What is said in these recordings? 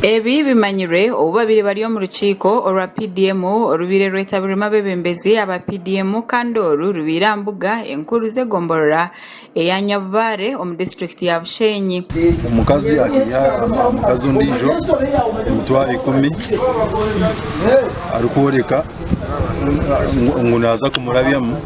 Ebi bimanyirwe obu babaire bari omu rukiiko orwa PDM orubaire rwetabirwemu abeebembezi aba PDM kandi oru rubaire aha mbuga enkuru z'egomborora eya Nyabubaare omu disiturikiti ya Bushenyi. Omukazi akaiha omukazi ondiijo emitwaro ikumi arikworeka ngu naaza kumurabyamu.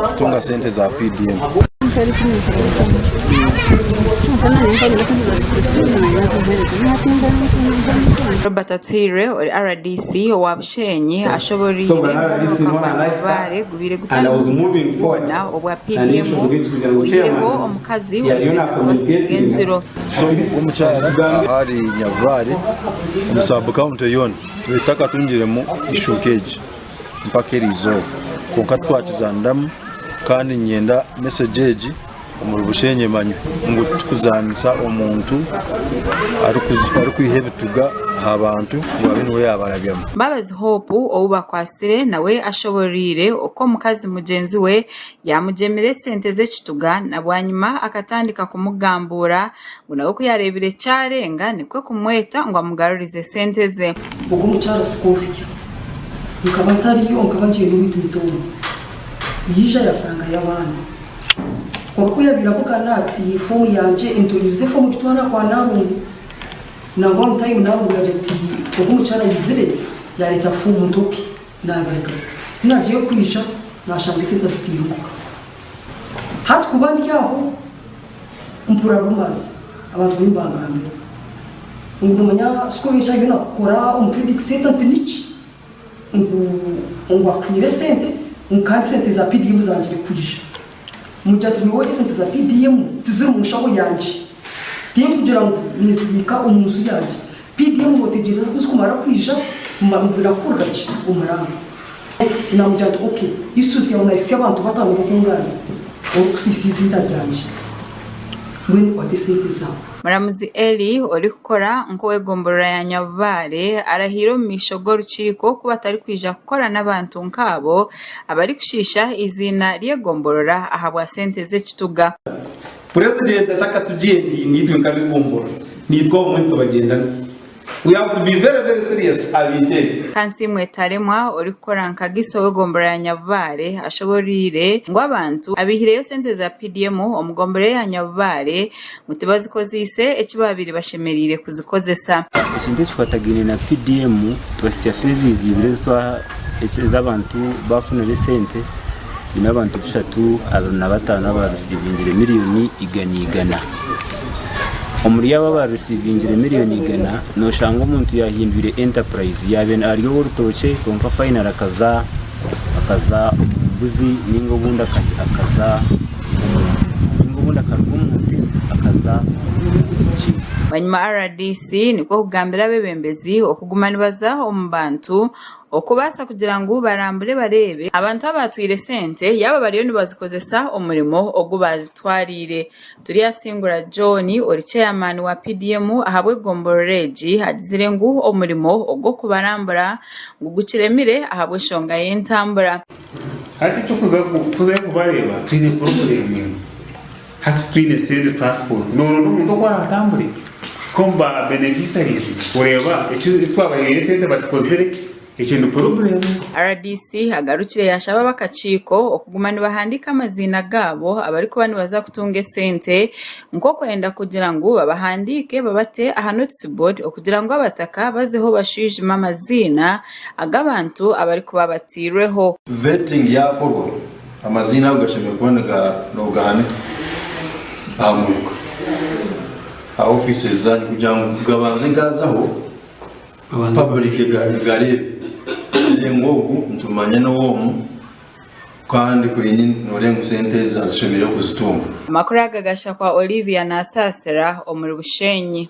kutunga sente za PDM. Robert Atwirwe ori rdc owa Bushenyi ashoboreire ngu omwaka gwa Nabibaare gubaire gutandikise obubi bwona obwa PDM buhweireho omukazi orikwenda kubasinga enziro. So obwo omukyara ahari Nyabibaare omu sub county yoona twete akatungiremu ishuuka egi. mpaka erizooba kwonka twakizaniramu Kandi ninyenda message egi omuri bushenyi emanywe ngu tikuzanisa omuntu arikwiha ebituga ahabantu ngu abe niwe yabarabyamu. Mbabazi Hope ou bakwatsire nawe ashoboreire oku omukazi mugyenzi we yaamugyemire esente z'ekituga na bwanyima akatandika kumugambuura Ngu nawe ku yaareebire kyarenga nikwo kumweta ngu amugarurize sente ze. Ogwo mukyara si kwohurya. Nkaba ntariyo, nkaba ngiire n'owaitu muto omwe. Yaija yasangayo abaana. Kwonka ku yaabaire abugana ati, Foomu yangye entoorize foomu ogitware aha kwa naarungu. Nangwa omu tayimu naarungu yaagira ati, Ogwo mukyara aizire yaareeta foomu ntoke naabiruga. Ku naagiire kwija naashanga esente azitaire omuka. Hati kuba ndi aho. mpurira rumazi abantu bariyo nibangambira ngu nomanya sikoba eki ariyo nakora omu trading center nti niki ngu akwiire esente ngu kandi esente za PDM zangire kwija mugira nti nyowe esente za PDM tiziri omu nshaho yangye tinkugira ngu ninzibiika omu nju yangye. PDM mwetegyereze kuzi kumara kwija mubira kukurira ki omuranga namugira nti ok iswe zyawe nayisya abantu batano bokungambira ori kusisa iziina ryangye mbwenu kwata esente zawe. Muramuzi Eli orikukora nk'owe gomborora ya Nyabubaare arahiire omu maisho g'orukiiko ku batarikwija kukora n'abantu nk'abo abarikushiisha eiziina ry'egomborora ahabwa sente z'ekituga. Purezidenti atakatugyendiire naitwe nka Bigumbura, naitwe obumwe nitubagyendana. We have to be very very serious aha bintu ebi. Kansiimwe Taremwa orikukora nka Giso w'egombora ya Nyabubaare ashoboreire ngu abantu abaihireyo sente za PDM omu gombora eya Nyabubaare ngu tibazikozeise eki baabaire bashemereire kuzikozesa. Ekintu ekikwatagaine na PDM twasya fees eziibire ezi abantu baafunayo sente biine abantu bushatu abiri na bataano aba risiivingire miriyoni igana igana. Omuri abo aba risiivingire miriyoni igana, nooshanga omuntu yaahindwire enterprise yaaba ari ow'orutookye kwonka fayinale akaza akaza omu mbuzi nainga obundi akaza omu nte nainga obundi akaruga omu nte akaza omu ki. Bwanyima rdc nikwo kugambira abeebembezi okuguma nibaza omu bantu Okubaasa kugira ngu barambure bareebe abantu abaatwire sente yaaba bariyo nibazikozesa omurimo ogu baazitwariire. Turyasingura John ori Chairman wa PDM ahabw'egomborora egi agizire ngu omurimo ogw'okubarambura ngu gukiremire ahabw'eshonga y'entambura. Hati tikuza kubareeba twine purobulemu enu. Hati twine esente transport noronda omuntu oku aratambure kuhika omu ba beneficiaries kureeba eki twabahaire esente bakikozire ekyo ni problem. Rdc agarukire yashaba abakakiiko okuguma nibahandiika amaziina gaabo abarikuba nibaza kutunga esente nk'okwenda kugira ngu babahandiike babate aha notice board okugira ngu abataka bazeho bashwijime amaziina ag'abantu abarikuba batairweho. Vetting yakorwa Amaziina ago gashemereire kuba nigahanika aha muruka, aha offices zanyu kugira ngu gabanze gaazaho public egareebe ngu ogu nitumanya n'ow'omu kandi kwenyini nooreeba ngu sente ezi azishemereire kuzitunga. Amakuru aga gashusha kwa Olivia Nasaasira omuri Bushenyi.